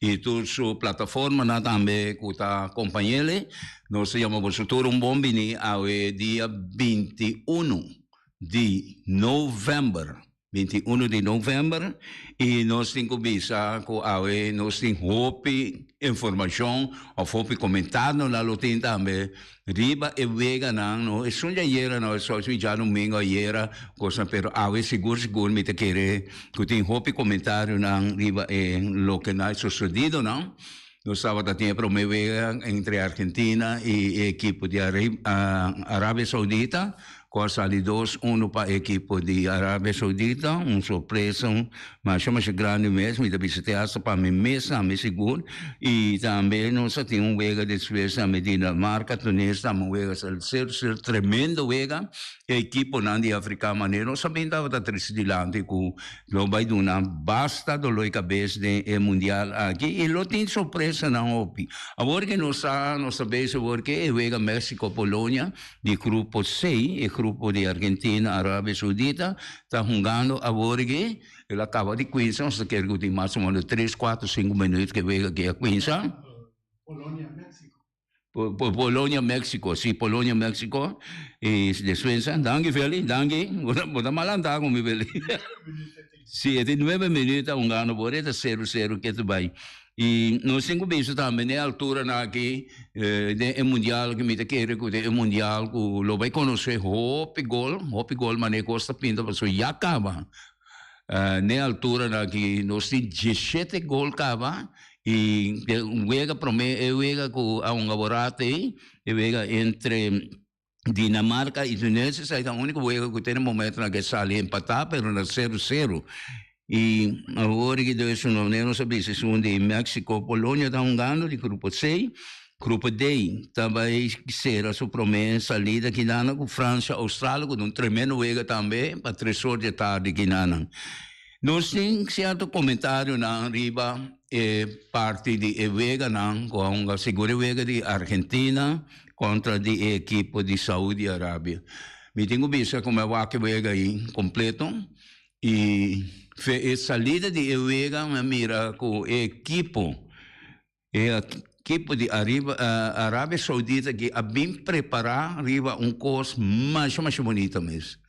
y tur su plataformanan tambe cu ta compañele. Nos ta yama boso tur un bon bini awe dia binti i unu di november, binti i unu di november, y nos tin cu bisa cu awe nos tin hopi informacion of hopi comentar nos lo tin tambe Riba e weganan no esun di ayera no esun di djadumingu ayera kosnan pero awe sigur sigur mi ta kere ku tin hopi komentarionan riba e loke na sosodido no nos tabata tin e prome wega entre Argentina i e ekipo di Arabia Saudita. Kua sali dos unu pa e ekipo di Arabia Saudita, un sorpresa masha masha grandi mes, mi ta bisa te hasta pa mi mes nan mi sigur, y tambe nos a tin un wega despues nan met Dinamarca, Tunes nan a wega, sa ser ser tremendo wega, e ekipo nan di Africa manera nos a bin tabata triste dilanti ku lo bai duna basta dolor di kabes den e mundial aki y lo tin sorpresa nan hopi, awor ke nos sa nos ta bese awor ke e wega Mexico Polonia. di grupo C, e grupo di Argentina, Arabia Saudita, ta hungando aworigi. El a kaba di kuinsa, nos ta kere ku tin mas o meno tres, kuater, sinku minut ke wega aki a kuinsa. Polonia, Mexico. Polonia, Mexico, si, Polonia, Mexico, i despues danki Feli, danki, bo ta malanta ku mi Feli. Si e tin nuebe minüt aun gana bo ret a seru seru ke ta bai i nos tin ku bisa tambe n'e alturanan aki den e mundial aki mi ta kere ku den e mundial ku lo bai konosé hopi gol hopi gol manera kos ta pinta pasobra ya kaba n'e alturanan aki nos tin diesshete gol kaba i den un wega promé e wega ku aun aworato ei e wega entre. Dinamarca y Tunisia sa eta unico huego cu te na momento na ke sali empata pero na cero cero y awor ki do esun lomne nos a bisa esun di Mexico Polonia ta hungando di grupo C grupo D ta bay cera su prome salida kinan cu Francia Australia cu don tremendo huego tambe pa tres or di tardi kinanan nos tin cierto comentario nan riba e parti di e hueganan cu a hunga seguro e huega di Argentina. kontra di e ekipo di Saudi Arabia. Mi tin ku bisa ku mi a wak e wega ei kompleto i fe e salida di e wega mi a mira ku e ekipo e ekipo di Ariba Arabia Saudita aki a bin prepará riba un kos masha masha bonito mes.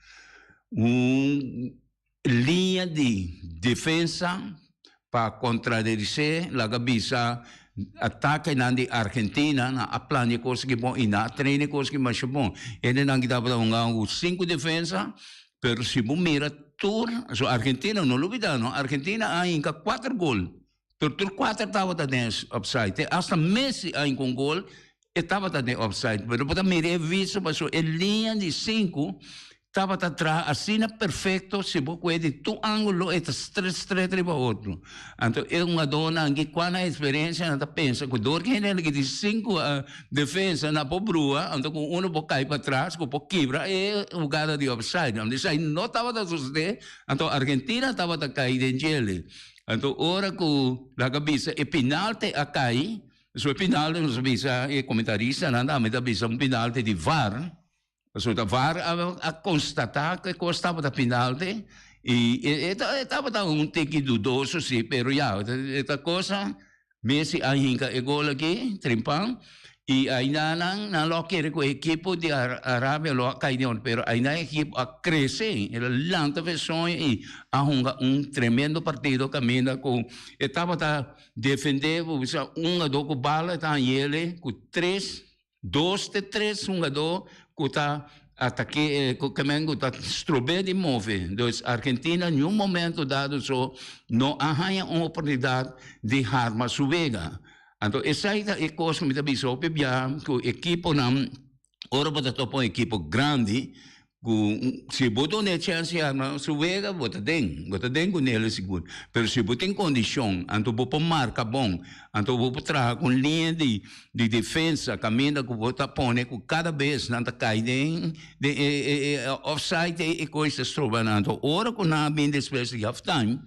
Un Liña di defensa pa contradece laga bisa atakenan di Argentina nan a plania cos ki bon y nan a traine cos ki masha bon. Hendenan ki tabata hunga cu cinco defensa pero si bo mira tur Argentina no lo bida no Argentina a hinca cuatro gol. Tur tur kuater tabata den opsaid. Te asta Messi a hinka un gol, e tabata den opsaid. Pero bo ta mira e vista paso e liña di sinku tabata traha asina perfekto, si bo kue di tur angulo e ta stret stret riba otro. Anto e hungadó nan ki kua nan eksperensia nan ta pensa ku dor ki hende liki di sinku defensa nan por brua, anto ku uno por kai patras ku por kibra e hugada di opsaid. Anto esei no tabata sosodé, anto Argentina tabata kai den jele. Anto ora ku laga a bisa e pinalte a kai, pasobra e pinalte nos a bisa, e komentaristanan tambe ta bisa un pinalte di var, pasobra ta var a konstatá ku e kos tabata pinalte i e tabata un tiki dudoso si, pero ya, e ta kos sa. Messi a hinka e gol aki, trimpan, i aindanan nan lo a kere ku e ekipo di Arabia lo a kai den otro, pero ainda e ekipo a krese, el a lanta fe soño i a hunga un tremendo partido kaminda ku e tabata defende, por bisa un a do ku bala e ta hañele ku tres. Dos te tres hungadó ku ta atake ku kemen ku ta strob'é di move. Dus Argentina niun momento dado so no a haña un oportunidat di harma su wega. Anto esei ta e kos ku mi ta bisa hopi bia ku ekiponan ora bo ta topa un ekipo grandi Ku si bo done chèns ya na su wega bo ta den, bo ta den ku Nelly sigur. Pero si bo tin kondishon anto bo por marka bon, anto bo por traha ku un liña di di defensa kaminda ku bo ta pone ku kada bes nan ta kai den den e e e offside e kois ta stroba nan. Anto ora ku nan a bini despues di half time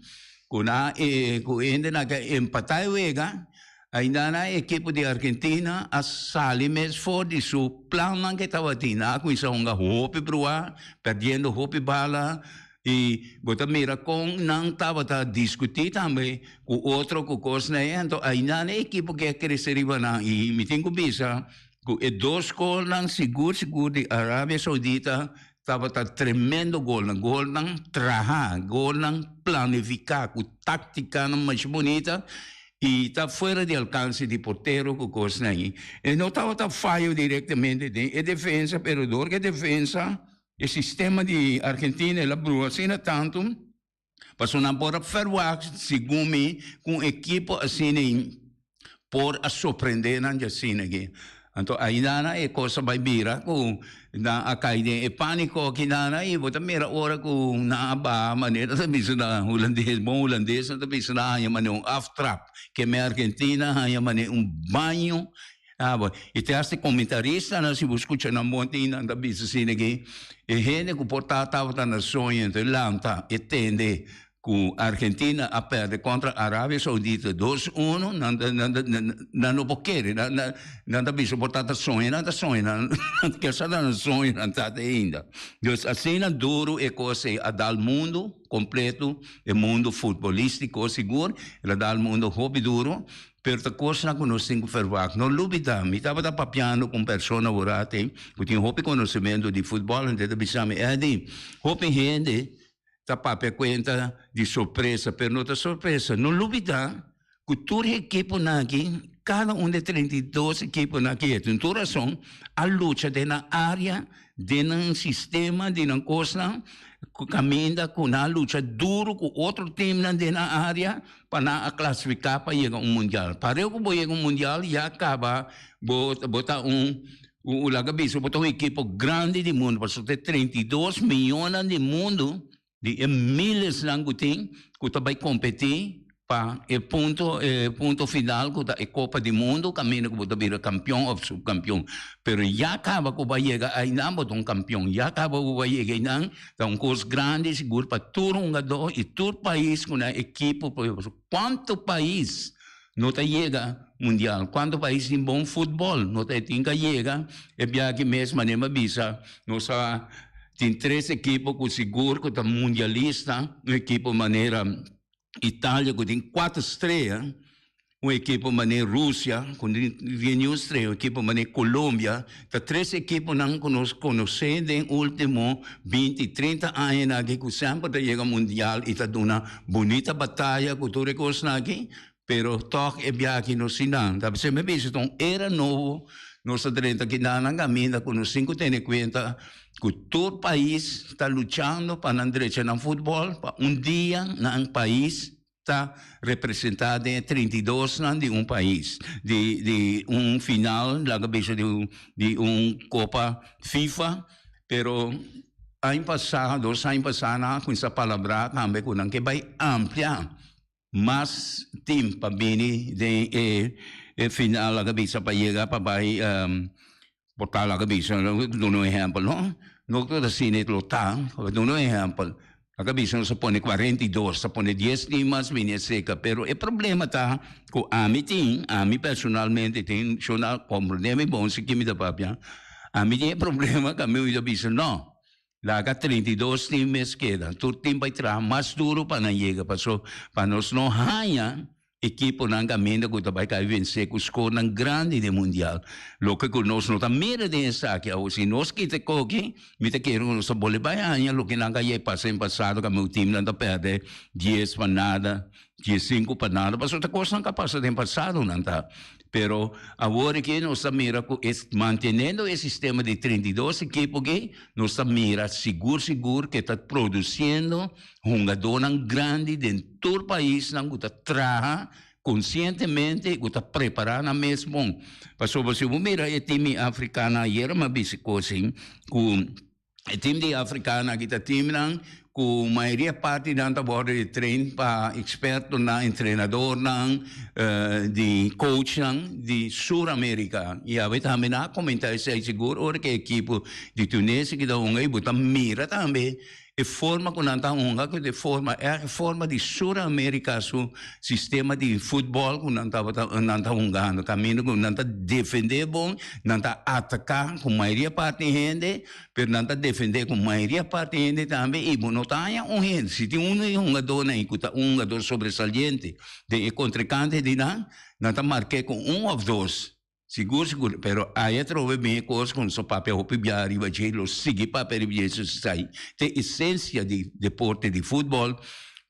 ku nan a ku hende nan a empatá e wega, Aindana e ekipo di Argentina a sali mes for di su plannan ku e tabatin. Nan a kuminsá hunga hopi bruhá, perdiendo hopi bala i bo ta mira kon nan tabata diskutí tambe ku otro ku kos na e hendo. Aindana e ekipo ke a krese riba nan i mi tin ku bisa ku e dos golnan sigur sigur di Arabia Saudita, Tabata tremendo golnan, golnan traha, golnan planifica cu tacticanan mas bonita y ta fuera di alcance di portero cu cosnan ayi. E no tabata fayo directamente den e defensa pero dor cu e defensa, e sistema di Argentina el a brua asina tanto, Pasobra nan por a ferwagt, segun mi, ku un ekipo asina por a sorprendé nan djasina aki. Anto aidana e kos ta bai bira ku nan a kai den e pániko aki dana i bo ta mira ora ku nan a baha manera nan ta bisa na hulandes, bon hulandes nan ta bisa nan haña manera un aftrap. Ke men Argentina haña manera un baño A bo i te hasta e komentaristanan si bo skucha nan bon tin nan ta bisa si de ke e hende ku por ta tabata na soño enton e lanta e tende ku Argentina a pèrdè kontra Arabia Saudita dos uno nan ta nan ta nan no por kere nan nan nan ta bisa por ta ta soño nan ta soño nan nan ta sa ta nan soño nan ta te ainda dus asina duru e kos ei a dal mundu kompletu e mundu futbolístiko sigur el a dal mundu hopi duru. Pero ta cosnan cu nos tin cu verwacht. No lubida, mi tabata papiando cu un persona wurati cu tin hopi conocimento di futbol, antes ta bisami, Eddy, hopi hende ta papia cuenta di sorpresa, pero no ta sorpresa. No lubida cu tur e ekiponan aki, cada un di e treinta i dos ekiponan aki, e tin tur rason, a lucha den nan area, den nan sistema di nan cosnan, caminda cu nan a lucha duro cu otro teamnan den nan area, pa nan a klasifiká pa yega un mundial. Pareho ku bo yega un mundial ya a kaba bo bo ta un un laga bisa bo ta un ekipo grandi di mundu pasobra ta e treinta i dos miónnan di mundu di e milesnan ku tin ku ta bai kompetí pa e punto e punto final ku ta e kopa di mundu kaminda ku bo ta bira kampion òf subkampion. Pero ya a kaba ku bo a yega ainan bo ta un kampion ya a kaba ku bo a yega einan. Ta un kos grandi sigur pa tur hungadó i tur pais ku na ekipo por ejemplo kuantu pais no ta yega mundial kuantu pais tin bon futbol no ta e tin ka yega e biaha mes manera mi bisa nos a tin tres ekipo ku sigur ku ta mundialista un ekipo manera Italia ku tin kuater strea. un ekipo manei Rusia ku di news tres un ekipo manei Kolombia ta tres ekiponan ku nos konosé den ultimo binti trinta añanan aki ku semper ta yega mundial i ta duna bunita bataya ku tur e kosnan aki pero tòg e biaha aki no si nan ta ser mi a bisa ta un era nobo nos ta drenta kindanan kaminda ku nos tin ku tene kuenta ku tur pais ta luchando pa nan drechanan futbòl pa un dia nan pais ta representá den e treinta i dosnan di un pais, di di un final laga bisa di un di un kopa fifa, pero aña pasá, dos aña pasá nan a kuminsá palabrá tambe ku nan ke bai ampliá mas tim pa bini den e final laga bisa pa yega pa bai Bo ta laga bisa, lo ke ta duna un ehèmpel, no? No ta keda asina it lo ta, lo duna un ehèmpel. Laga bisa nos a pone cuarenta y dos, ta pone dies tin mas bini e seka, pero e problema ta ku ami tin, ami personalmente tin, shon na comprende mi bon si ke mi ta papia, ami tin e problema ku ami oí ta bisa, no. Laga treinta i dos tin mes keda. Tur tin bai traha mas duru pa nan yega paso pa nos no haña ekiponan kaminda ku ta bai kai vense ku skornan grandi den mundial. Loke ku nos no ta mira den esaki awo si nos kita e koki mi ta kere ku nos ta bole bai haña loke nan ka yai pasa den pasado ku ame ku timnan ta pèrdè dies pa nada, dies sinku pa nada paso ta kosnan ku a pasa den pasadonan ta. Pero awor aki nos ta mira cu e mantenendo e sistema di trinta i dos ekipo aki, nos ta mira sigur sigur cu e ta produciendo hungadornan grandi den tur paisnan cu ta traha concientemente y cu ta prepara nan mes bon. Pasobra si bo mira e timi Africana ayer mi a bisticosin cu. E tim di Afrikano aki ta timnan ku mayoria parti di nan ta wòrdu e train pa ekspertonan, entrenadornan, di kouchnan di Sur Amerika. I awe tambe nan a komentá esei sigur ora ku e ekipo di Tunesi kita hunga i bo ta mira tambe e forma ku nan ta hunga ku e forma èg forma di Sur Amerika su sistema di futbòl ku nan tabata nan ta hungando kaminda ku nan ta defendé bon, Nan ta ataká ku mayoria parti hende, pero nan ta defendé ku mayoria parti hende tambe i bo no ta haña un hende. Si tin unu di e hungadónan ei ku ta un hungador sobresaliente den e kontrekante di nan, nan ta mark'é ku un òf dos. Sigur sigur. Pero ai atrobe bin e kos ku nos a papia hopi bia ariba dje i lo sigui papia ariba dje su sai t'e esensia di deporte di futbòl.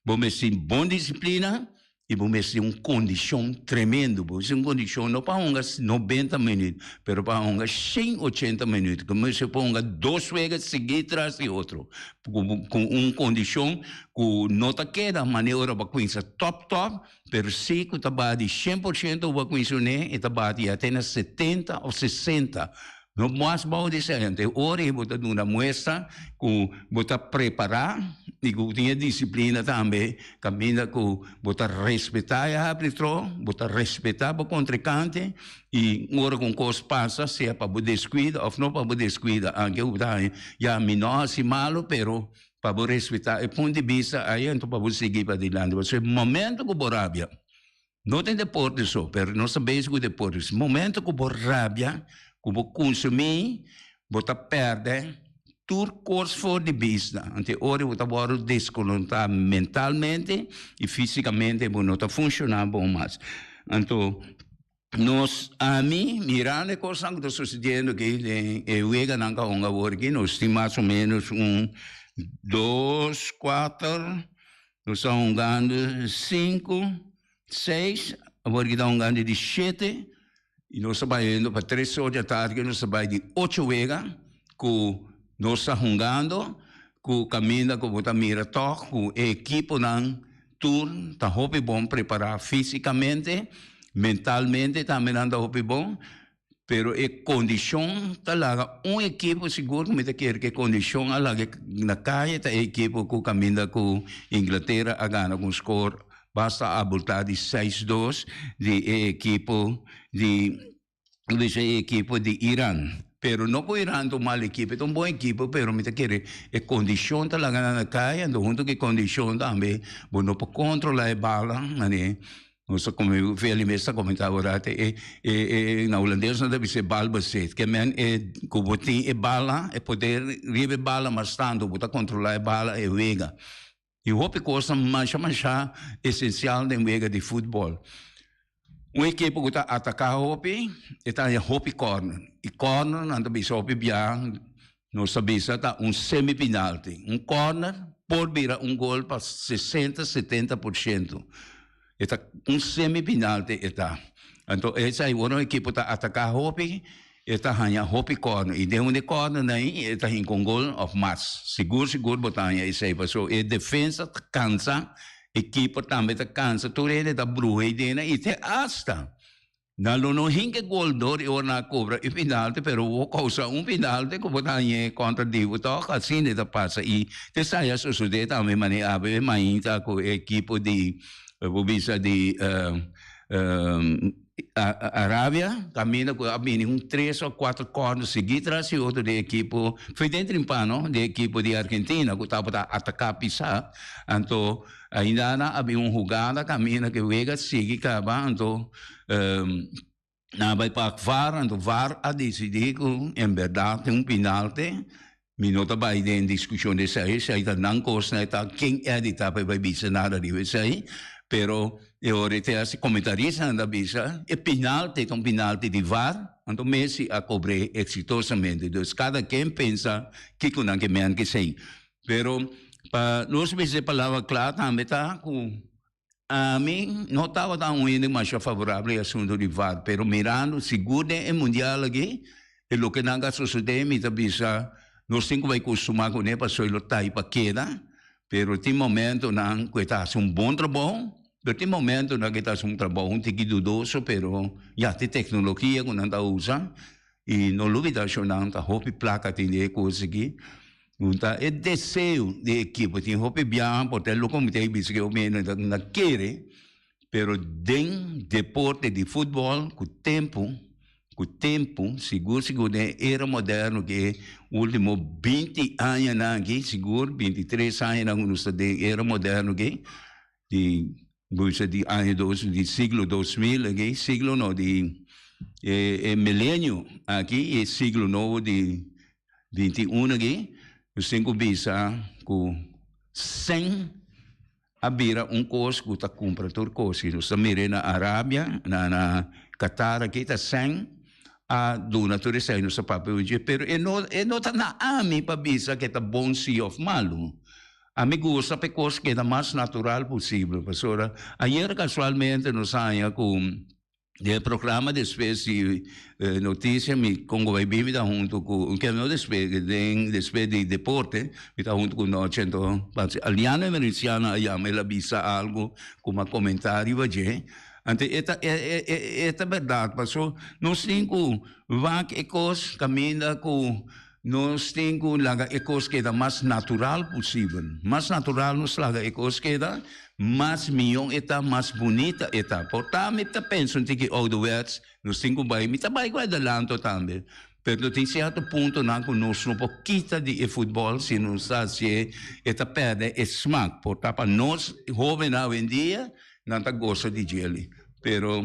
Bo mester tin bon disiplina y bo mes tin un condicion tremendo, bo mes tin un condicion no pa hunga nobenta minuut pero pa hunga shen ochenta minuut, bo mes tin pa hunga dos wega sigui tras di otro cu un condicion cu no ta keda mane ora bo a cuinsa top top pero si cu ta bati shen por shento bo a cuinsa une y ta bati ya te na setenta of sesenta. Lo mas bao di esei ante ora bo ta duna muestra ku bo ta prepará i ku bo tin e disiplina tambe kaminda ku bo ta respetá e harbitró, bo ta respetá bo kontrikante i ora ku un kos pasa sea pa bo deskuida òf no pa bo deskuida aunke bo ta haña ya mi no a hasi malu pero pa bo respetá e punt di bista ai anto pa bo sigui padilante pasobra momento ku bo rabia No tin deporte so, pero nos ta bezig ku deporte. Momento ku bo rabia, ku bo konsumí, bo ta pèrdè tur kos for di bista. Anto e ora bo ta wòrdu deskonoktá mentalmente i físikamente, bo no ta funshoná bon mas. Anto, nos, ami, mirando e kosnan ku ta sosediendo aki den e weganan ku a hunga awor aki, nos tin mas o ménos un dos, kuater Nos ta hongando sinku, seis, awor kita hongando di shete. Y nos ta bai oyendo pa tres or di a tardi nos ta bai di ocho wega cu nos ta hongando cu caminda cu bo ta mira tog cu e ekiponan tur ta hopi bon prepara fisicamente, mentalmente tambe nan ta hopi bon. Pero e kondishon ta laga un ekipo sigur ku mi ta kere ku e kondishon a laga na kaya ta e ekipo ku kaminda ku Inglatera a gana ku un skor basta abultá di seis dos di e ekipo di lo bishi e ekipo di Iran. Pero no ku Iran ta un mal ekipo e ta un bon ekipo pero mi ta kere e kondishon ta laga nan na kaya huntu ku e kondishon tambe bo no por kontrolá e bala mane Nos ta come veli mes ta come ta ora te e e e na holandés no ta bise bal bezit que men e cubo tin e bala e poder ribe bala mas tanto bo ta controla e bala e wega y hopi cosa masha masha esencial den wega di football un ekipo cu ta ataka hopi e ta haña hopi corner y corner nan ta bisa hopi bia Nos ta bisa ta un semifinalti. Un kòrner por bira un gol pa sesenta, setenta por shento. E ta un semifinalti e ta. Anto esei wòrdu un ekipo ta ataka hopi, e ta haña hopi kòrner. I den un di e kòrnernan ei e ta hinka un gol òf mas. Sigur sigur bo ta haña esei pasobra e defensa ta kansa, e keeper tambe ta kansa. Tur hende ta bruha ei dena i te asta. Nan lo no hinke gol dor i ora nan a kobra e pinalte, pero bo kousa un pinalte ku bo ta hañ'é kontra di bo tòg. Asina e ta pasa i te sa ya sosodé tambe manera e mainta ku e ekipo di e por bisa di Arabia kaminda ku a bini un tres òf kuater kòrner sigui tras e otro di e ekipo fei den trimpa no di e ekipo di Argentina ku tabata ataka pisa anto. Ainda nan a bin un hugada kaminda ke wega sigui kaba anto nan a bai pak var anto var a desidi ku en bèrdat tin un pinalte mi no ta bai den diskushon di esei esei ta nan kos nan e ta ken e a di ta pa e bai bisa nada riba esei pero e ora e test di komentaristanan ta bisa e pinalte ta un pinalte di var anto Messi a kobr'e eksitosamente dus kada ken pensa kiko nan ke mènt kesei. Pero pa nos mes e palabra cla tambe ta cu ami no tabata un hende masha favorabel e asunto di var pero mirando sigur den e mundial aki e loke nan ta sosode mi ta bisa nos tin cu bay costuma cune pasobra lo ta y pa keda pero tin momentonan cu e ta haci un bon trabajo pero tin momentonan cu e ta haci un trabajo un tiki dudoso pero ya tin tecnologia cu nan ta usa. y no lo bida shonnan ta hopi placa tin di e cos aki un ta e deseo di e ekipo tin hopi biaha por ta e loco mete bisa ke hopi hende ta na kere pero den deporte di football cu tempo cu tempo sigur sigur den e era moderno ke e ultimo binti aña nan aki sigur binti tres aña nan cu nos ta den era moderno aki di busa di aña dos di siglo dos mil aki siglo no di e e milenio aki e siglo nobo di binti uno aki nos tin ku bisa ku sèn a bira un kos ku ta kumpra tur kosi nos ta mire na Arabia na na Katar aki ta sèn a duna tur esei nos ta papia oye pero e no e no ta na ami pa bisa ke ta bon si òf malu. A mi gusta pa e kos keda mas natural posibel, pasobra ayer kasualmente nos haña ku den e programa Despues di Noticia mi kon ku bai bin mi ta huntu ku, no despues, den Despues di Deporte mi ta huntu ku Noche, enton parse Aliano Emericiano a yama, el a bisa algu ku mi a komentá riba dje, anto e ta e ta bèrdat, paso nos tin ku wak e kos kaminda ku. Nos tin cu laga e cos keda mas natural posibel. Mas natural nos laga e cos keda, mas miyo e ta, mas bunita e ta. Por ta mi ta pensa un tiki ouderwets, nos tin cu bay, mi ta bay cu adelanto tambe, pero lo tin cierto puntonan cu nos no por kita di e futbol si nos ta haci'e, e ta perde e smaak. Por ta pa nos hobennan awendia, nan ta gosa di djeli. Pero.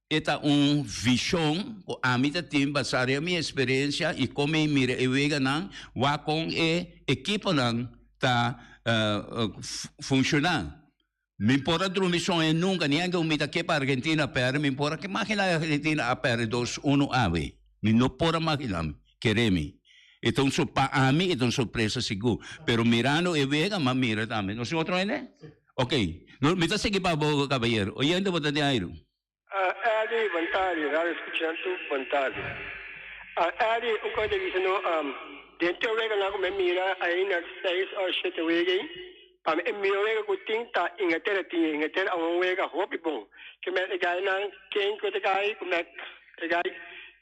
E ta un vishon ku ami ta tin basá riba mi eksperensia i kon mi mira e weganan wak kon e ekiponan ta funshoná. Mi por a drumi soña nunka, ni aunke mi ta ke pa Argentina a pèrdè, mi por a imaginá e Argentina a pèrdè dos unu awe. Mi no por a imaginá, mi kere mi. E ta un sor, pa ami e ta un sorpresa sigur. Pero mirando e wega mi a mira tambe nos otro hende. Ok. No, mi ta sigui pa bo, kabaiero. Oyente bo ta den airu? A Eddie, bon tardi, radio escuchan tu, bon tardi. A Eddie, un kos ta bisa no, am, den te wega nan ku mi a mira ain na seis or shete wega ei, pa mi e miho wega ku tin ta Inglatera tin ei. Inglatera a won wega hopi bon. Ke mester gai nan, ken ku ta gai, ku mester gai.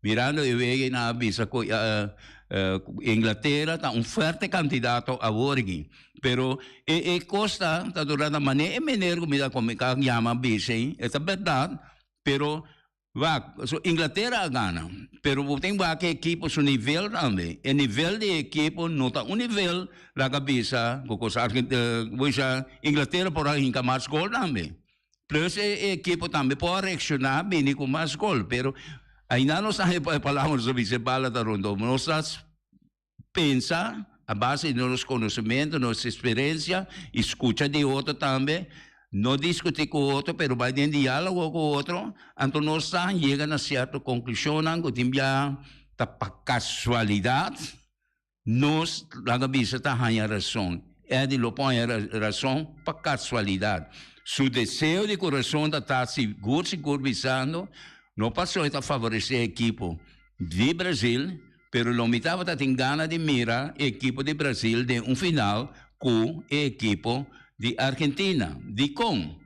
Mirando e wega y nan a bisa cu Inglaterra ta un fuerte candidato awor gin. Pero e e cos ta ta dura na mane e meneer cu mi ta cuminca yama bisa y e ta berdad pero wak so Inglaterra a gana pero bo tin wak e ekipo su nivel tambe e nivel di e ekipo no ta un nivel laga bisa cu cos Arge bo isha Inglaterra por a hinca mas gol tambe. Plus e ekipo tambe por a reakshoná, bini ku mas gol. Pero aindá nos ta haya palabra nos ta bisa e bala ta rondó. Nos ta pensa a base di nos konosementu, nos eksperensia i skucha di otro tambe. No diskutí ku otro pero bai den diálogo ku otro. Anto nos ta yega na sierto konklushonnan ku tin bia ta pa kasualidat Nos, laga bisa, ta haña rason. Eddie lo por haña rason pa casualidad. Su deseo di corazon ta ta sigur sigur bisando, No pasoy ta favorece e ekipo di Brazil, pero lo mi tabata tin gana di mira e ekipo di Brazil den un final cu e ekipo di Argentina. Dicon?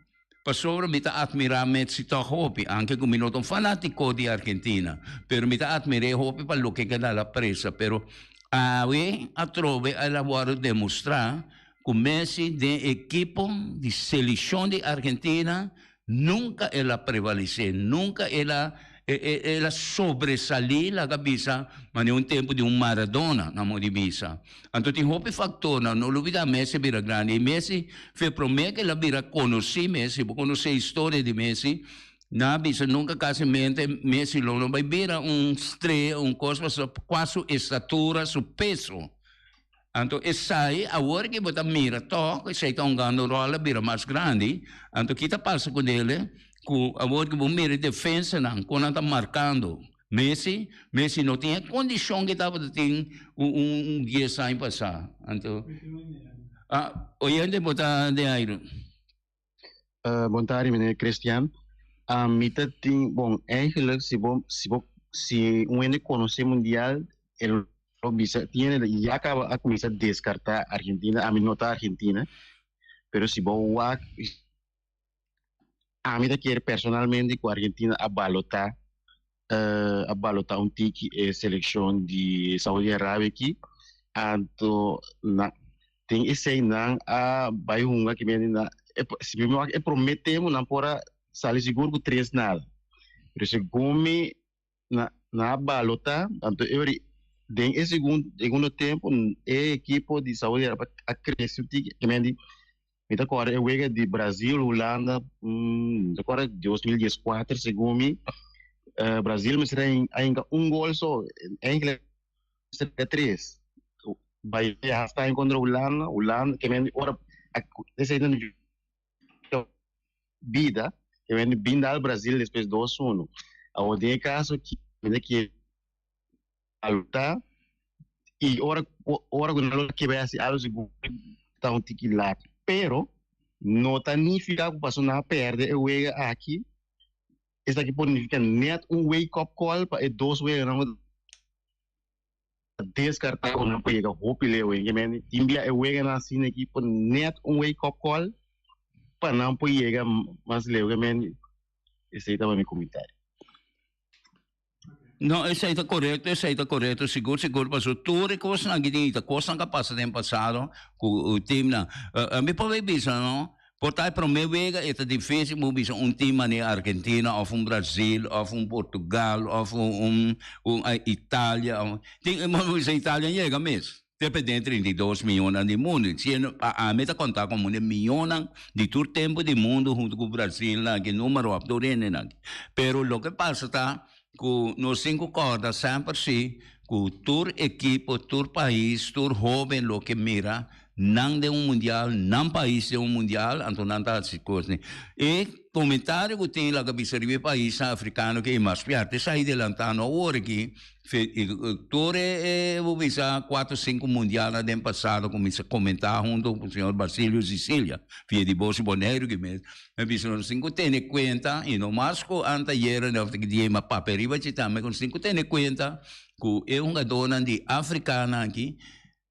Pasobra mi ta atmirá Messi tòg hopi, anke ku mi no ta un fanátiko di Argentina. Pero mi ta atmir'é hopi pa loke ke na la presa. Pero awe atrobe a la wòrdu demostrá ku Messi den ekipo di selekshon di Argentina nunka el a prevalisé, nunka el a. El a sobresalí, laga bisa, manera un tempu di un Maradona, nan modi bisa. Anto tin hopi faktor, nan no lubidá Messi a bira grandi. I Messi fe promé ku el a bira konosí Messi. Bo konosé historia di Messi, nan a bisa nunka kasi mente Messi lo no bai bira un strella, un kos pasobra kual su estatura, su peso. Anto esai awor ke bo ta mira tok esei ta hongando ròl a bira mas grandi, anto ki ta pasa ku dele ku awor ke bo mira e defensanan kon nan ta markando Messi, Messi no tin e kondishon ke tabata tin un dies aña pasá, anto oye bo ta de ai. Uh, bon tardi meneer Christian. Uh, mi ta tin, bon, eigenlijk, si bo, si bo, si un hende conoce mundial, el lo bisa, tin hende ya acaba a comienza descarta Argentina, a mi no ta Argentina, pero si bo wak, a mi ta kier personalmente cu Argentina a balota a balota un tiki e selekshon di Saudi Arabia aki anto na den esei nan a bai hunga ki mende na si mismo wak e prome tempo nan por a sali sigur ku tres nada pero segunmi na nan a balota anto e wari den e segun segundo tempo e ekipo di Saudi Arabia a krese un tiki ki mende Mi ta kòrda e wega di Brazil, Hulanda, mi ta kòrda dos mil dies kuater segun mi. Brazil mester a hinka un gol so, Engeland mester a hinka tres. Bai e halftime kontra Hulanda, Hulanda ke men ora esei nan bida, ke men binda al Brazil despues dos unu. Awor den e kaso aki men ta kere Alta y ora ora cu nan lo kebe haci algo si Guri ta un tiki lat pero no ta nifica cu pasobra nan a perde e wega aki esaki por nifica net un wake up call pa e dos weganan cu ta descarta cu nan por yega hopi leu hen gemente tin bia e weganan asina aki por net un wake up call pa nan por yega mas leu gemente esey ta mi comentario. No, esei ta correcto, esei ta correcto, sigur, sigur, paso tur e cosnan aki tin ita, cosnan ca pasa den pasado cu uh, teamnan. Uh, mi probeer bisa, no? Por ta e prome wega e ta difícil bo bisa un team mane Argentina of un Brazil of un Portugal of un, un, un uh, Italia. Of, tin, mo bisa Italia yega mes. Te pe den trinta i dos miónnan di mundu. Si e no a ami ta kontá kon mune miónnan di tur tempu di mundu huntu ku Brasilnan aki, número òf tur hendenan aki. Pero loke pasa ta ku nos tin ku kòrda semper si ku tur ekipo, tur pais, tur hóben loke mira nan den un mundial, nan pais den un mundial, anto nan ta hasi kosnan. E komentario ku tin laga bisa riba e paisnan afrikano ke i mas fuerte sa i delantá no awor aki, Tur e bisa cuatro cinco mundial na den pasado cu mi sa comenta hunto cu señor Basilio Sicilia via di Bosio Boneiru ki mes mi a bisa sin cu tene cuenta y no mas cu anteayer of ta kidia ima papia riba ci tambe sin cu tene cuenta cu e hungadornan di Africana aki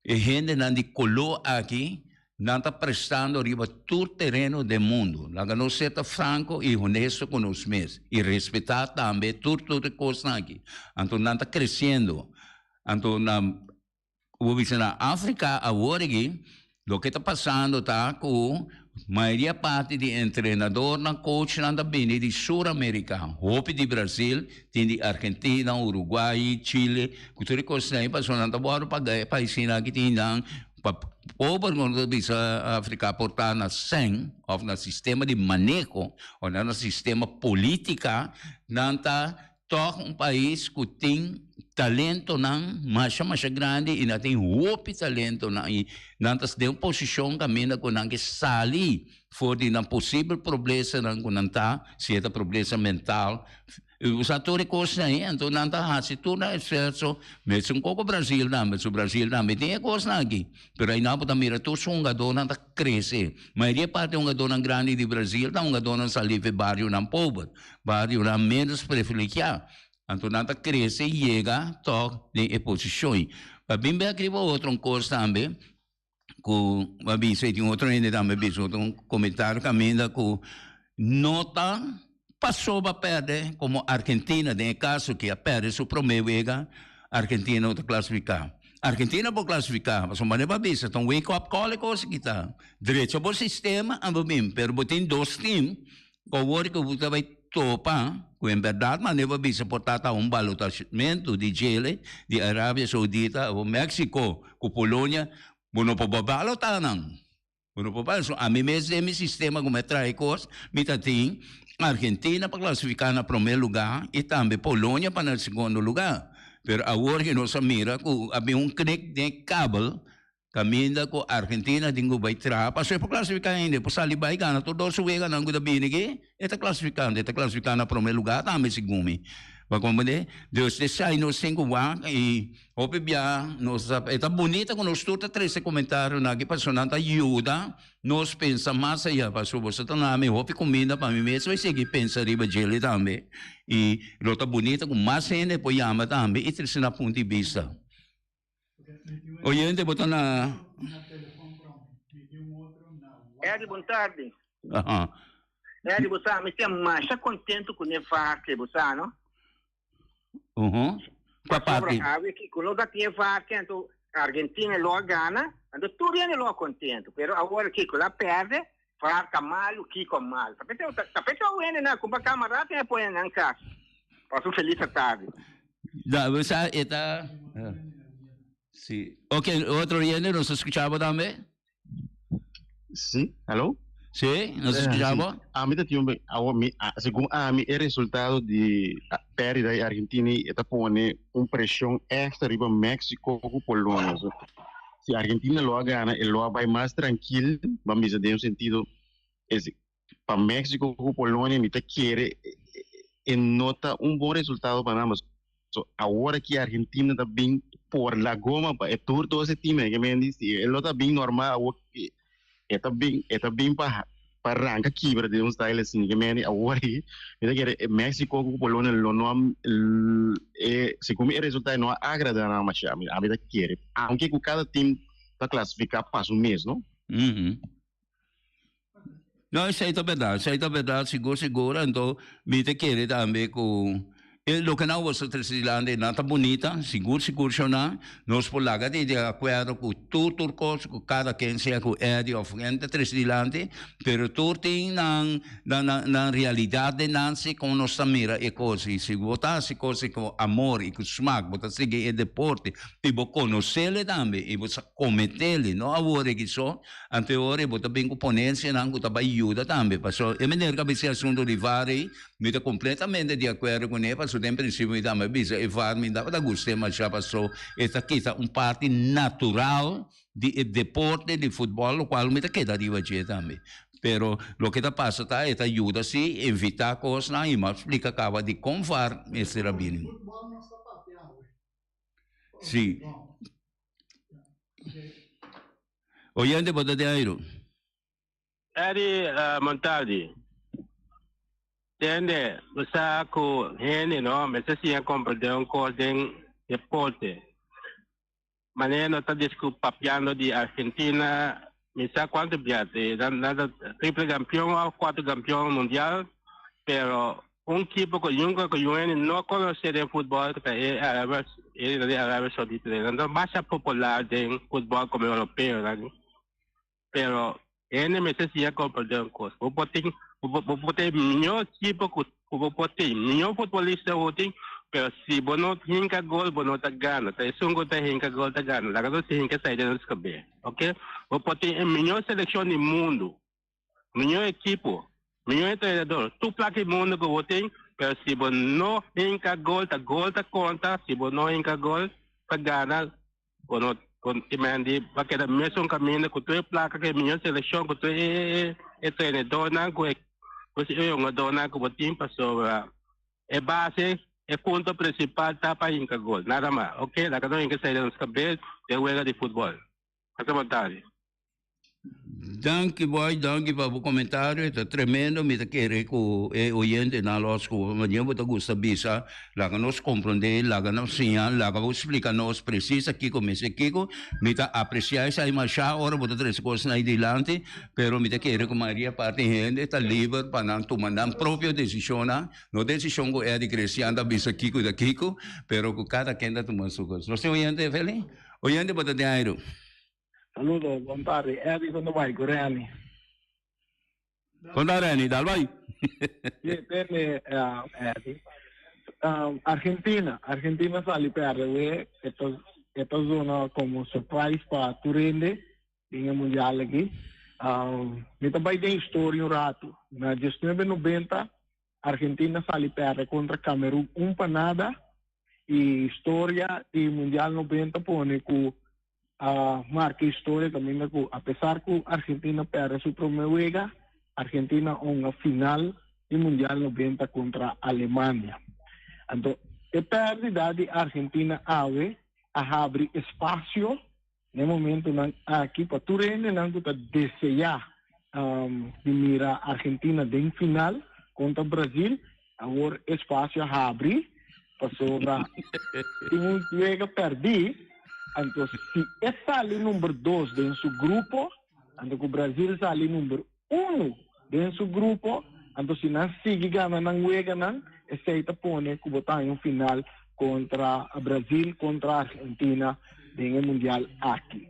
E hendenan di coló aki, nan ta prestando riba tur tereno den mundo. Laga nos seta franco y honesto cu nos mes y respeta tambe tur tur e cosnan aki. Anto nan ta creciendo. Anto na, como bisa, na Africa aworigi loke ta pasando ta cu. Mayoria parti di e entrenadornan, coachnan ta bini di Suramerika. Hopi di Brasil, tin di Argentina, Uruguai, Chile, cu tur e cosnan y pasobra nan ta wòrdu pagá e paisnan aki tin nan pa pober cu nan ta bisa Afrika por ta na sèn of na sistema di maneho of na sistema politica nan ta Tòg un pais ku tin talentonan masha masha grandi i nan tin hopi talentonan i nan ta den un posishon kaminda ku nan ke sali for di nan posibel problemsanan ku nan ta, si e ta problemsa mental, u sa tur e kosnan ei anto nan ta hasi tur nan esfuerso mesun koko Brazil tambe su Brazil tambe tin e kosnan aki pero ayina bo ta mira tur su hungadornan ta krese. Mayoria e parti hungadónan grandi di Brazil ta hungadónan salí fen barionan pober, barionan ménos prefiligiá. Anto nan ta krese i yega tòg den e posishon. Pa bin bèk riba otro un kos tambe ku bo a bisa i tin otro hende tambe a bisa otro komentario kaminda ku no ta. Pasoba perde komo Argentina den e kaso aki a perde su promé wega Argentina no ta klasifiká. Argentina por klasifiká pasobra manera bo a bisa ta un wake up call e kos aki ta. Drecha bo sistema a bo bini pero bo tin dos tim ku awor ku bo ta bai topa ku en bèrdat manera bo a bisa por tata un balotashmento di Chile, di Arabia Saudita o Mexico ku Polonia bo no por bo balotá nan. Bueno por banda so ami mes den mi sistema como a trae cos mi ta tin Argentina pa clasifica na prome lugar y tambe Polonia pa na secondo lugar pero awor que nos a mira cu a bin un knik den kabel caminda cu Argentina tin cu bay traha pasobra e por clasifica hende e por sali bay gana tur dos su weganan cu ta bini aki. E ta klasifiká, e ta klasifiká na promé lugá tambe, segun mi. Bo komprendé? Dus te shai nos tin ku wak i hopi biaha nos ta e ta bonito ku nos tur ta trese komentarionan aki pasobra nan ta yuda nos pensa mas ayá. Pasobra boso ta na mi hopi kuminda pa mi mes, mi sigui pensa riba djele tambe. I lo ta bonito ku mas hende por yama tambe i trese nan punto di bista. Oyente, bo ta na... Eddie, bon tarde. Aha. Eddie, bo sa, mi ta masha contento con e varken, bo sa, no? Uhu. Qua parte? Awe ki con nos a tin e varken, anto Argentina lo a gana, anto tur yende lo a contento. Pero awor, kiko, lo a perde, Far ta malu kiko mal. Ta pensa ta ta pensa wene na kumpa kama rato e pone nan kas. Pas un felis atardi. Da we sa e ta eh, si ok otro oyente nos escucha bo tambe Sí, hello? si nos Eh, escucha sí. bo Ami ta tin un be- awo mi, a- según Ami, e resultado di a- pérdida di Argentina y e ta pone un presión extra riba México cu Polonia. So, Si Argentina lo a gana e lo a bai mas trankil, ban bisa den un sentido es pa Mexico ku Polonia mi ta kere e no ta un bon resultado pa nan, pasobra awor aki Argentina ta bin por la goma pa e tur dos e tim e ke men di si e lo ta bin normal awor E ta bin e ta bin pa pa ranka kibra den un style asin ke meni awor ei mi ta kere e Mexico ku Polonia lo no e segun mi e resulta no a agrada nan masha mi ami ta kere aunke ku kada team ta klasifiká pa su mes no. No, esei ta berdad, esei ta berdad sigur sigur, anto mi ta kere tambe ku e loke nan wostra Tricislandi nan ta bunita, sigur sigur shona, nos por laga di di akuerdo ku tur tur kos, ku kada ken sea ku Eddie of ken ta Tricislandi, pero tur tin nan nan nan nan realidad den nan si kon nos ta mira e kos, i si bo ta hasi kos ku amor i ku smak, bo ta sigui e deporte i bo konosele tambe i bo sa kometele, no a wor regisó. Anteori bo ta bin ku ponencianan ku ta bai yuda tambe. Paso e meneer ku a bisa e asuntu di var ei, mi ta completamente di acuerdo cu ne, paso den principio mi tambe a bisa e var mi tabata guste masha paso e ta kita un parti natural di e deporte di futbol lo cual mi ta keda riba dje tambe. Pero loke ta pasa ta e ta yuda si invita cosnan y mi a splica caba dicon var mester a bini. Si. Oyente bo ta den ayru? Eddy uh, Montaldi. Tende, bo sa cu hende no mester siña comprende un cos den deporte. Manera no ta discu papiando di Argentina, Mi sa cuanto biaha te nan nan ta triple campeón o cuatro campeón mundial, pero un kipo cu nunca cu yu hende no conoce den futbol que ta e Arabia e ta di Arabia Saudita den. Nan ta masha popular den futbol como europeo nan ni. Pero hende mester siña comprende un cos, bo por tin bo bo por tin miñor kipo cu ku bo por tin. Miñor futbolista bo tin, pero si bo no hinka gol bo no ta gana. Ta esun ku ta hinka gol ta gana. Laga nos hinka esei den nos kabé, ok? Bo por tin e miñor selekshon di mundu, miñor ekipo, miñor entrenador, tur plak di mundu ku bo tin, pero si bo no hinka gol, ta gol ta konta, si bo no hinka gol ta gana. Con no con e Mandy va keda mesun caminda cu to'e placa cu e mijo seleccion cu to'e e e e trenedornan cu e pues e jongadornan cu bo tin pasobra e base e punto principal ta pa hinca gol nada mas oke laga nos hinca esei den nos cabes den wega di futbol. Pasa bo Dari. Danki boy, danki pa bo comentario, ta tremendo, mi ta kere ku e oyente na lo scuba, ma nyen bo ta gusta bisa, laga nos comprende, laga nos señal, laga bo explica nos precies a kiko mester kiko, mi ta aprecia esai masha ora bo ta trece cos nai dilanti, pero mi ta kere ku Maria parti hende ta liber pa nan tuma nan propio decisionan, no decision ku Eddie Christian ta bisa kiko ta kiko, pero ku cada ken ta tuma su cos. Nos tin oyente Feli? Oyente bo ta den airu. Saludo bon tarde Eddie con de bay cu Renny. Con ta Renny dal bay. Ye tene uh, Eddie. Um, Argentina, Argentina sali perde we eta eta zona como surprise pa Turende in el mundial aquí. Um, mi ta bay den historia un rato. Na 1990 Argentina sali perde kontra Kamerun un pa nada i historia di mundial noventa pone ku a marka historia kaminda ku apesar ku Argentina perde su promé wega Argentina a hunga final di mundial noventa kontra Alemania. Anto e pèrdida di Argentina awe a habri espasio Na e momentunan aki pa tur hendenan ku ta deseá di mira Argentina den final kontra Brasil, awor e spasio a habri pasobra tin un juega pèrdí. Anto si e sali number dos den su grupo, anto ku Brasil sali number. unu den su grupo, anto si nan sigui gana nan weganan, esei ta pone ku bo ta haña un final kontra Brazil, kontra Argentina den e mundial aki.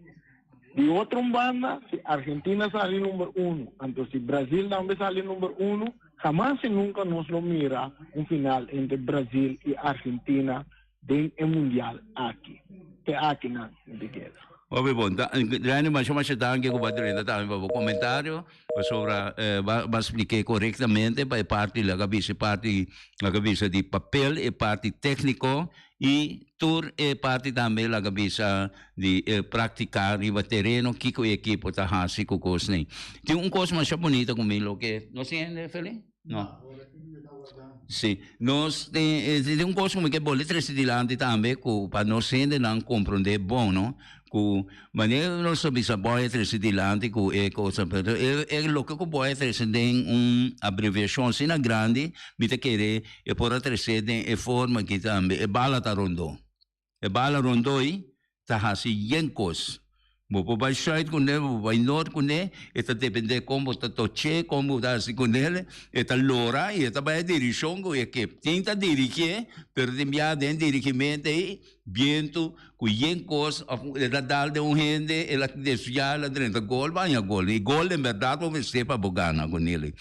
Di otro un banda, si Argentina sali number unu, anto si Brazil tambe sali number unu, hamas i nunka nos lo mira un final entre Brazil i Argentina, den e mundial aki. Te aki nan di guera. Oke bon ta Rene masha masha danki ku bo drenta tambe pa bo komentario pasobra bo a splike korektamente pa e parti lak a bisa e parti lak a bisa di papel e parti tekniko i tur e parti tambe lak a bisa di e praktika riba tereno kiko e ekipo ta hasi ku kos nei tin un kos masha bunita ku mi loke nos hende Feli. No. Sí, nos ten, eh, ten un cosa como que vos le trece delante también, que para nos gente no comprende bon, ¿no? Que maneer nos so bisa boy trece delante, que eh cosa, pero eh, eh, lo que boy trece den un abreviación, si na grande, mi te quere, eh, por trece den eh forma que también, eh, bala ta rondo. E bala rondoi ta hasi yen kos. Bo por bai sùit ku ne, bo por bai nort ku ne, e ta dependé kon bo ta toch'é, kon bo ta hasi ku nel. E ta lora i e ta bai e dirishon ku e ke tin ta dirigié, pero tin bia den dirigimentu ei bientu ku yen kos òf e ta dal den un hende, el a desviá, el a drenta gol, baña gol. I gol den bèrdat bo mester pa bo gana ku nel.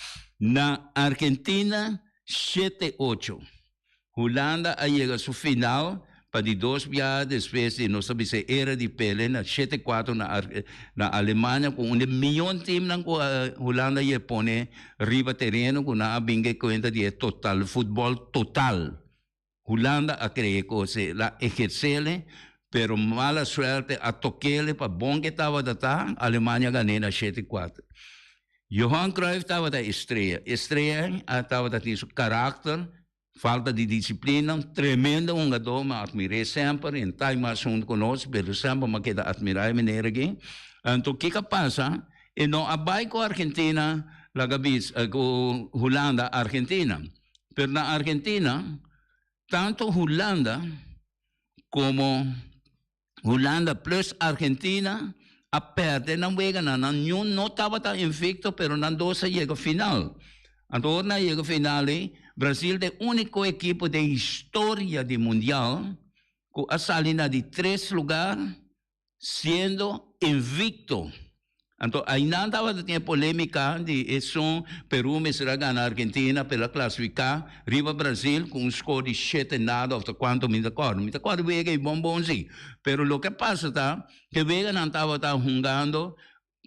Na Argentina, shete ocho Hulanda a yega su final pa di dos biaha despues di nos ta bisa era di Pele na shete kuater na na Alemania ku un di miyon timnan ku Hulanda ye pone riba tereno ku nan a bin ke kuenta di e total futbol total Hulanda a kree kose la ehersele pero mala suerte a tokele pa bon ke tabata ta Alemania gane na shete kuater. Johan Cruyff tabata estrella. Estrellanan a tabata tin su karakter, falta di disiplina. Tremendo hungadó, mi a admir'é semper. E n'ta mas huntu ku nos, pero semper mi a keda admirá e meneer akí. Anto ke k'a pasa? E no a bai ku Argentina, laga bisa, ku Hulanda Argentina. Pero na Argentina, tantu Hulanda komo Hulanda plus Argentina a perde nan weganan. Nan niun no tabata invicto, pero nan dos a yega final. Anto ora nan a yega final ei, Brazil ta e unico ekipo den historia di Mundial cu a sali na di tres lugar siendo invicto. Anto aynan tabata tin e polemica di e son Peru mester a gana Argentina pa el a clasifica riba Brasil cu un score di shete nada of ta cuanto mi ta acorda. Mi ta acorda wega y bon bon si. Pero loke a pasa ta ke weganan tabata hungando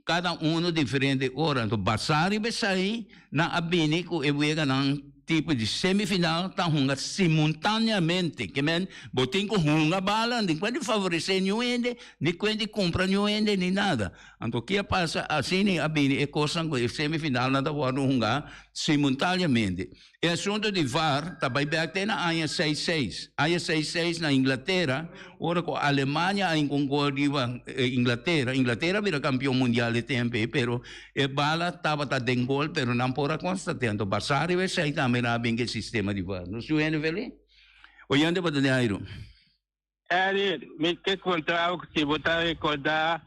cada uno diferente ora anto basa riba esai. Nan a bini cu e weganan tipo di semifinal ta hunga simuntaneamente. Ke men bo tin cu hunga bala ni cuenta di favorece niun hende, ni cuenta di cumpra niun hende, ni nada. Anto ke a pasa? Asina a bini e cosnan cu e semifinalnan ta wordo hunga simuntaneamente. E asunto di var ta bay bek te na aña seis seis. Aña seis seis na Inglatera, ora cu Alemania a hinca un gol riba Inglatera. Inglatera a bira campeon mundial e tempo ey, pero. E bala tabata den gol pero nan por a konsta tento basá riba esei tambe nan a bin ke sistema di var. No su hende felí? Oyente bo ta di Ayron. Eri, mi ke kontrabo ku si bo ta rekordá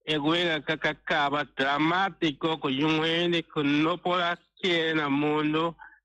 e wega a ka kaba dramatiko ku yunghende ku no por a kere na mundu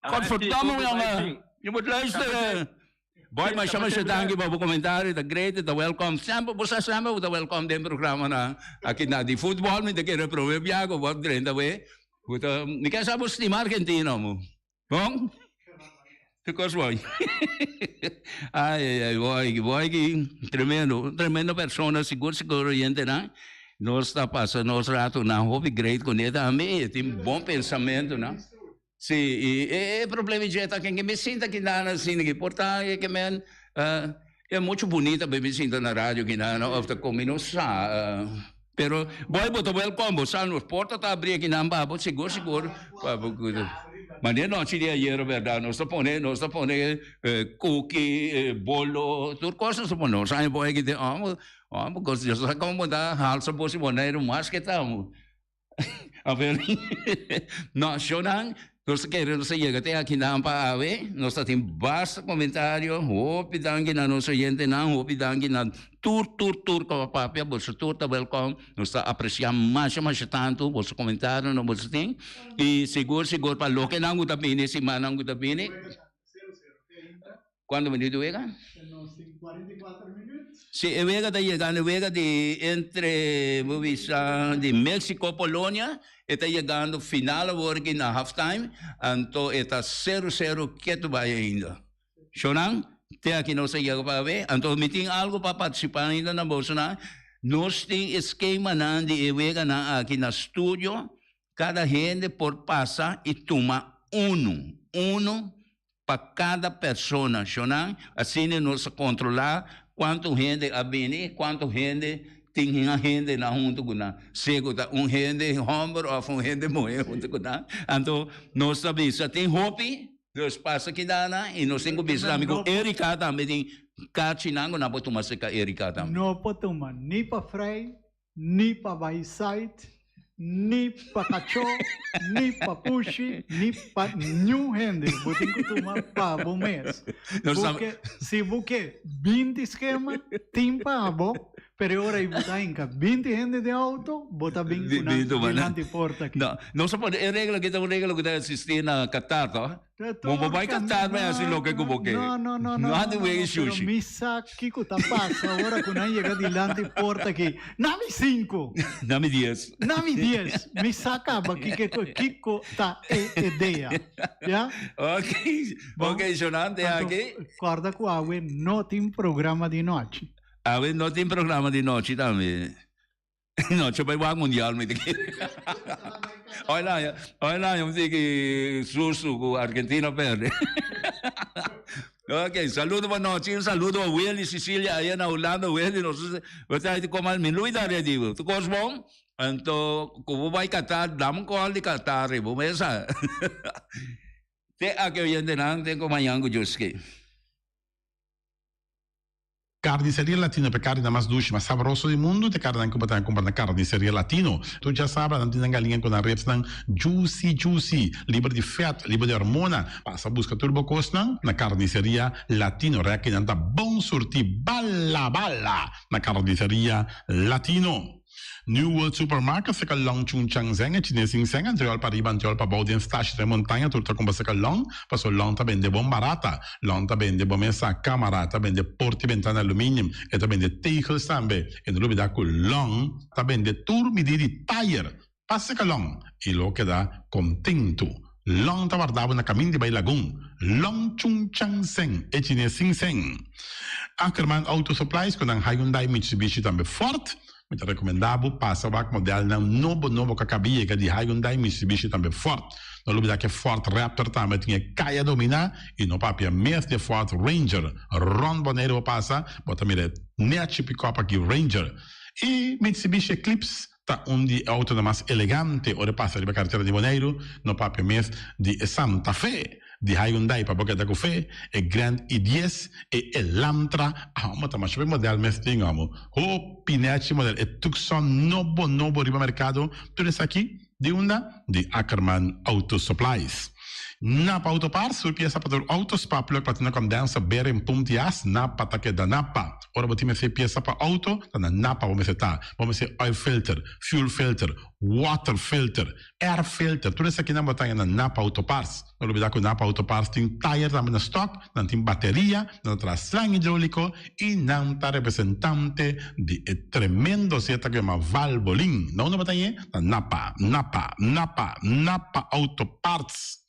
Godverdomme jonge, yu moet luisteren. Oké, masha masha danki pa bo comentario, ta great, e ta welcome. Semper, bo sa semper bo ta welcome den programanan aki na di futbol, mi ta kere prome bia ku bo drenta awe. Bo ta, mi ke sa bo stima Argentina amo. Bon? Ki kos bo oi? Ai ai ai, bo aki, bo aki tremendo, un tremendo persona, sigur sigur oyentenan nos ta pasa nos ratonan hopi great kuné tambe, tin bon pensamentunan. Sí, i e problema dje ta ke mi sinta aki nan asina ki por ta e ke men e muchu bunita be mi sinta na radio aki nan of ta kon mi no sa pero bo bo ta welkom bo sa nos porta ta abri aki nan ba bo sigur sigur pa bo kuda mane nochi di ayera bèrdat nos ta pone nos ta pone kuki bolo tur kos nos ta pone nos a haña bo aki te amo amo kos Dios a sa kon bo ta halsa bo si bo na e rumas ke ta. A ver, nacionnan, nos ta kere nos a yega te akinan pa awe, nos ta tin basta comentario, hopi danki na nos oyentenan, hopi danki na tur, tur, tur con a papia, boso tur ta welcome, nos ta aprecia masha, masha tanto boso comentario no boso tin, y segur, segur pa loke nan cu ta bini, simannan cu ta bini, Cuando bini di wega? Si e wega ta yegando, e wega di entre, bo bisa, di Mexico, Polonia, e ta yegando final awor aki na half time, anto e ta cero, cero ketu bai ainda. Sho nan, te aki nos a yega pa awe, anto mi tin algo pa participa ainda na bosonan, nos tin e schemanan di e weganan aki na studio, Kada hende por pasa i tuma unu, unu pa kada persona shonnan, asina nos a kontrolá kuantu hende a bini i kuantu hende tin un hende nan huntu ku nan, sea ku ta un hende hòmber òf un hende muhé huntu ku nan. Anto nos ta bisa tin hopi, nos pasa kidanan i nos tin ku bisa tambe ku Erika tambe tin kachinan ku nan por tuma serka Erika tambe. No por tuma ni pa frei Ni pa Bayside, ni pa Cachó, ni pa Pushi, ni pa niun hende. Bo tin cu tuma pa bo mes. Nos ta- Porque si bo ke binti schema, tin pa bo, pero e ora y bo ta hinca binti hende den auto, bo ta bin Di- cu nan di tuma, di nan. manti porta aki. No, nos a pone e regla, kita un regla cu ta existi na Qatar, toch? Bo bo bai Qatar bai hasi loke ku bo ke. No, no, no, no, Nan no, di no, wei no, pero sushi. mi sa kiko ta pasa ora ku nan yega dilanti porta aki. Na mi sinku, Na mi dies. na mi dies. Mi sa kaba kike ko, kiko ta e edea. Ya? Ok, Bon, ok, so nan te Anto, aki. korda ku awe no tin programa di nochi. Awe no tin programa di nochi tambe. No, cho bai wak mundial mi te kere. Hoy el año, hoy el año mi que susu ku Argentina perde. ok, saludo pa noche, un saludo pa Willy Sicilia allá na Holanda, Willy, no sé, we tai te komal mi lui da ready, tu kos bom? Anto, ku bo bai Qatar, dam kol di Qatar, bo mesa. te ake oyente nan, ten ko mañan ku Joski. Carniceria Latino pa e carnenan mas dushi, mas sabroso di mundu ta e carnenan cu bo ta cumpra na Carniceria Latino. Tur djasabra nan tin nan galinha cu nan ribsnan juicy juicy, liber di vet, liber di hormona. Pasa busca tur bo cosnan na Carniceria Latino. Rekinan ta bon surti bala bala na Carniceria Latino. New World Supermarket saka long chun changzeng e chines sin seng antiol pa riba antiol pa bou den stash den montaña tur ta kumba saka long paso long ta bende bon barata long ta bende bo mesa kamara ta bende porta y bentana aluminium e ta bende tegels tambe e no lubida ku long ta bende tur midí di tayer Pa sika long i lo keda kontentu. Long ta wardabo na kamin di bai lagun. Long chun chan sen e chines sin sen. Ackerman Auto Supplies ku nan Hyundai Mitsubishi tambe Ford. Mi ta rekomenda bo pasa wak modelnan nobo nobo ku a kabi yega di Hyundai Mitsubishi tambe Ford. No lubida ke Ford Raptor tambe a tin e kaya dominá i no papia mes di e Ford Ranger. Rond Boneiru bo pasa bo ta mira e nechi pikòp aki Ranger i Mitsubishi Eclipse. Ta un di e autonan mas elegante ora e pasa riba e karetera di Boneiru, no papia mes di e Santa Fe di Hyundai pa bo keda ku fe, e Grand i-dies e Elantra amo ta masha pa e modèl mes tin amo. Ho pinechi modèl e Tucson nobo nobo riba merkado, tur esaki di unda? Di Ackerman Auto Supplies. Napa Auto Parts, tur piesa pa tur auto, spark plug pa tuna kondensa, bearing, pump di as, napa ta keda napa. Ora bo tin mester piensa pa auto, ta na Napa bo mester ta. Bo mester oil filter, fuel filter, water filter, air filter, tur esakinan bo ta haña na Napa Auto Parts. No lubida ku Napa Auto Parts tin tayer tambe na stock, nan tin bateria, nan ta traha slang hidroliko i nan ta representante di e tremendo zeta ku yama Valvoline. Na unda bo ta hañ'e? Na Napa, Napa, Napa, Napa Auto Parts.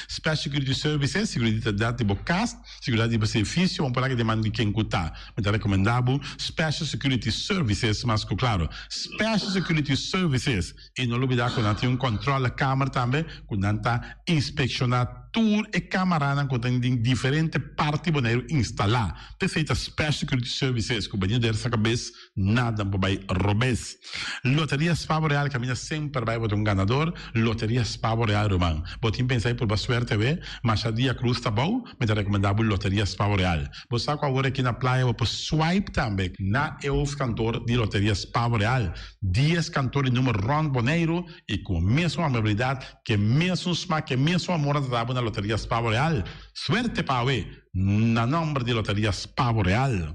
Special Security Services, Seguridad ta dal di bo kas, seguridad di bo servicio, un palabra di man di ken ku ta. Mi ta recomenda bo Special Security Services, mas ku claro, Special Security Services. Y no lo bida ku nan tin un controle camera tambe ku nan ta inspecciona tur e camaranan ku ta den diferente parti Boneiru instala. P'esei ta Special Security Services ku bani der saca bes. Nadan por bai robes. Loteria Spavo Real caminda semper bai bo ta un ganador. Loteria Spavo Real ruman. Bo tin pensa y purba suerte awe? Masha dia cruz ta bou, mi ta recomenda bo Loteria Spavo Real. Bo sa cu awor aki na playa bo por swipe tambe. Na e hoofdkantoor di Loteria Spavo Real, dies kantoor di numero rond Boneiru y cu mesun amabilidad, ke mesun smaak, ke mesun amor a ta dabo na Loteria Spavo Real. Suerte pa awe! Na nomber di Loteria Spavo Real.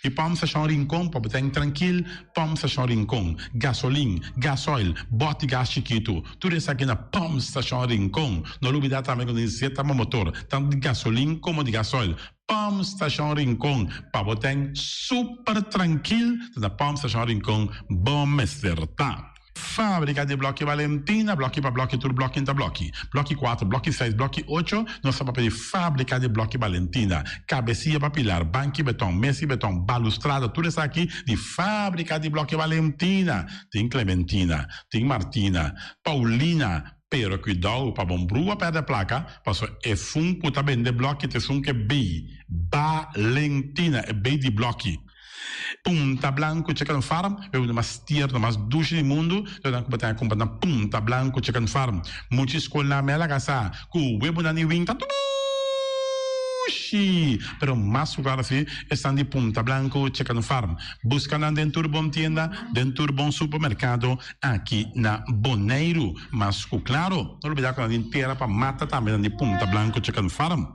E Pump Station Rincon por bo ta den trankil, Pump Station Rincon, gasolin, gasoil, bot y gas chikitu, tur esaki na Pump Station Rincon. No lubida tambe cu tin sieta bo motor, tanto di gasolin como di gasoil. Pump Station Rincon, pa bo ta den super trankil ta na Pump Station Rincon bo mester ta. Fábrika di Blòki Valentina, Blòki pa Blòki tur blòki ta blòki, blòki kuater, blòki seis, blòki ocho, nos ta pa pedí Fábrika di Blòki Valentina, kabesiya pa pilar, banki betòn, mes i betòn, balustrada, tur esaki di Fábrika di Blòki Valentina, tin Klementina, tin Martina, Paulina, pero kuidou pa bo brua pèrdè plaka, paso e fun ku ta bende blòki t'esun ke bei, Balentina, e bei di blòki. Punta blanku chicken farm e unda mas tierno, mas dushi di mundu, so nan ku bo tin a kumpra na Punta Blanku Chicken Farm. Muchi skolnan mi a laga sa ku webonan di wing ta dushi, pero mas sugar asi esnan di Punta Blanku Chicken Farm. Buska nan den tur bon tienda, den tur bon supermerkado aki na Boneiru. Mas ku klaro, no olbida ku nan tin tera pa mata tambe nan di Punta Blanku Chicken Farm.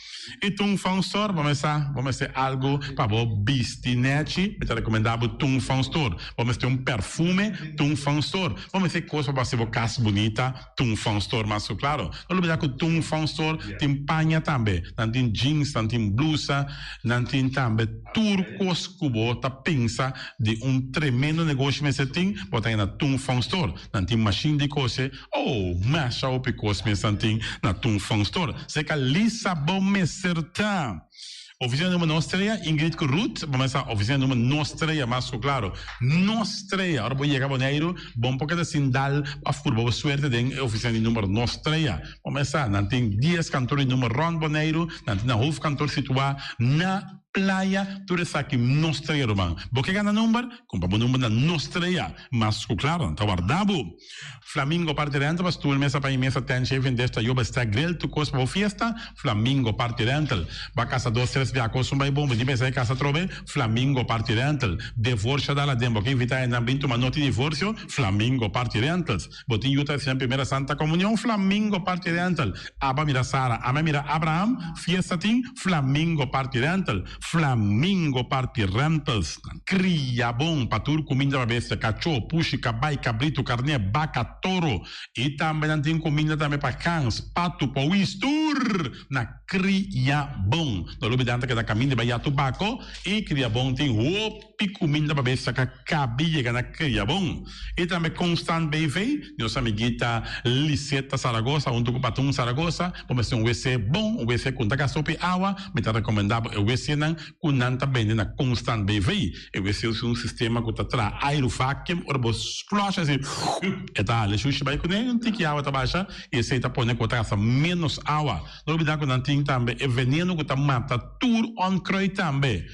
E tungfangstor bo mester bo mester algu pa bo bisti nèchi mi ta rekomendá bo tungfangstor bo mester un perfume tungfangstor bo mester kos pa bo hasi bo kas bunita tungfangstor mas ku klaro no olbidá ku tungfangstor tin paña tambe nan tin jeans nan tin blusa nan tin tambe tur kos ku bo ta pensa di un tremendo negoshi mester tin bo ta hina tungfangstor nan tin mashin di kose. Oh, masha hopi cos mi esan tin na tun fun store. Zeca Lisa bo mester ta Oficina Numero Nostrea, Ingrid cu Ruth bo mester ta Oficina Numero Nostrea, mas cu claro, Nostrea. Ora bo yega Boneiru, bon por keda sin dal a furba bo suerte den e Oficina di Numero Nostrea. Bo mester ta, nan tin dies kantoor di numero rond Boneiru, nan tin nan hoofkantoor situa na Playa, tur esaki Nostrea, ruman. Bo ke gana number? Cumpra bo number na Nostrea, mas cu claro, nan ta warda bo. Flamingo parti rental Pastoor mesa pa e mesa ten chef en def ta yo bestek grill tu kos pa bo fiesta Flamingo parti rental Ba kasa dos tres bia kos un bai bon bini besa e kasa trobe Flamingo parti rental Devorsha da laden bo ke invita ennan bin tuma noti divorsio Flamingo parti rentals Bo tin yu ta resibi nan primera santa komunion Flamingo parti rental Aba mira Sara ame a mira Abraham fiesta tin Flamingo parti rental Flamingo parti rentals nan. Kria bon pa tur kuminda pa bestia, kachó, pushi, kabai, kabritu, karné, baka, toro, i tambe nan tin kuminda tambe pa gans, patu, powis, tur na kria bon. No lo bidanta ke ta kaminda bai yatu bako i kria bon tin hoop. Di cuminda babé saca cabi yega na cria bon. Y tambe Constant BV, di nos amiguita Liseta Zaragoza hunto cu Patun Zaragoza, bo mester un wc bon, un wc cu nta gasta hopi awa, mi ta recomenda bo e wcnan cu nan ta bende na Constant BV. E wc ta un sistema cu ta traha aire, vacuum, ora bo flush así e ta hala e shushi bay cune, un tiki awa ta basha y esey ta pone cu bo ta gasta menos awa. No olbida cu nan tin tambe e veneno cu ta mata tur onkruid tambe.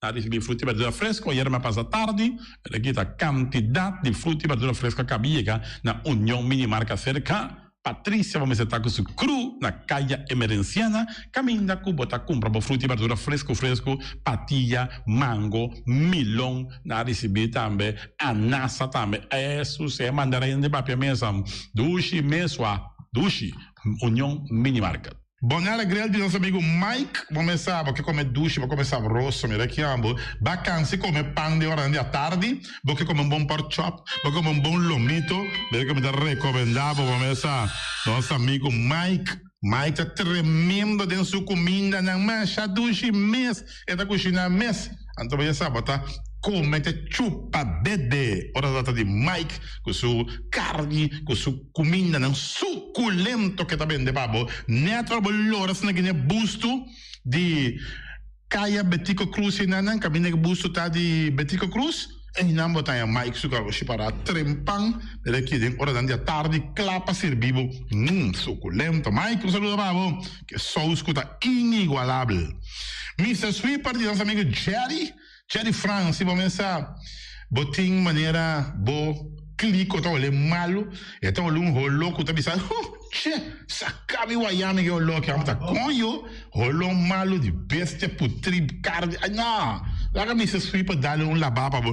a ricibi fruti y berdura fresco. Ayer m'a pasa tardi, el a kita cantidad di fruti y berdura fresco acá bin yega na Union Minimarca cerca Patricia bo mester ta cu su cru na Caya Emerenciana caminda cu bo ta cumpra bo fruti y berdura fresco fresco, patilla, mango, milon, n'a ricibi tambe anasa tambe esu sea mandarin di papia mesa, dushi, mesua, dushi, Union Minimarket. Boña alegrel di nos amigu Mike bo mesaba ke kome dushi bo kome sabroso mira kianbo ba kansi kome pan di ornan di atardi bo ke kome un bon pork chop bo ke kome un bon lomito mira ke mi ta rekobendabo bo mesa nos amigu Mike Mike ta tremendo den su kumindanan masha dushi mes. E ta kushiná mes, anto baya saba ta kome, ta chupa, bebe ora ta ta di Mike ku su karni, ku su kumindanan sukulento ke ta bende pa bo nèt ora bo lora asina gini e bustu di Kaya Betico Cruz i nan nan kaminda ku e bustu ta di Betico Cruz. Einan bo ta haña Mike su kargoshi pará trempan den e kiden oranan di atardi kla pa sirbi bo. Mmm, sukulento Mike un saludo pa bo. Ke sous ku ta inigualabel. Mister Sweet parti nos amigo Jerry, Jerry Frans, si bo mester bo tin manera bo klik o ta olé malu, e ta olé un holo ku ta bisa, Huh! Che! Saka mi wayá mi ke oló ki. Amo ta konjo, holo malu di bestia, putrib, karni. Ay, no! Laga Mister Sweet pa dale un labá pa bo.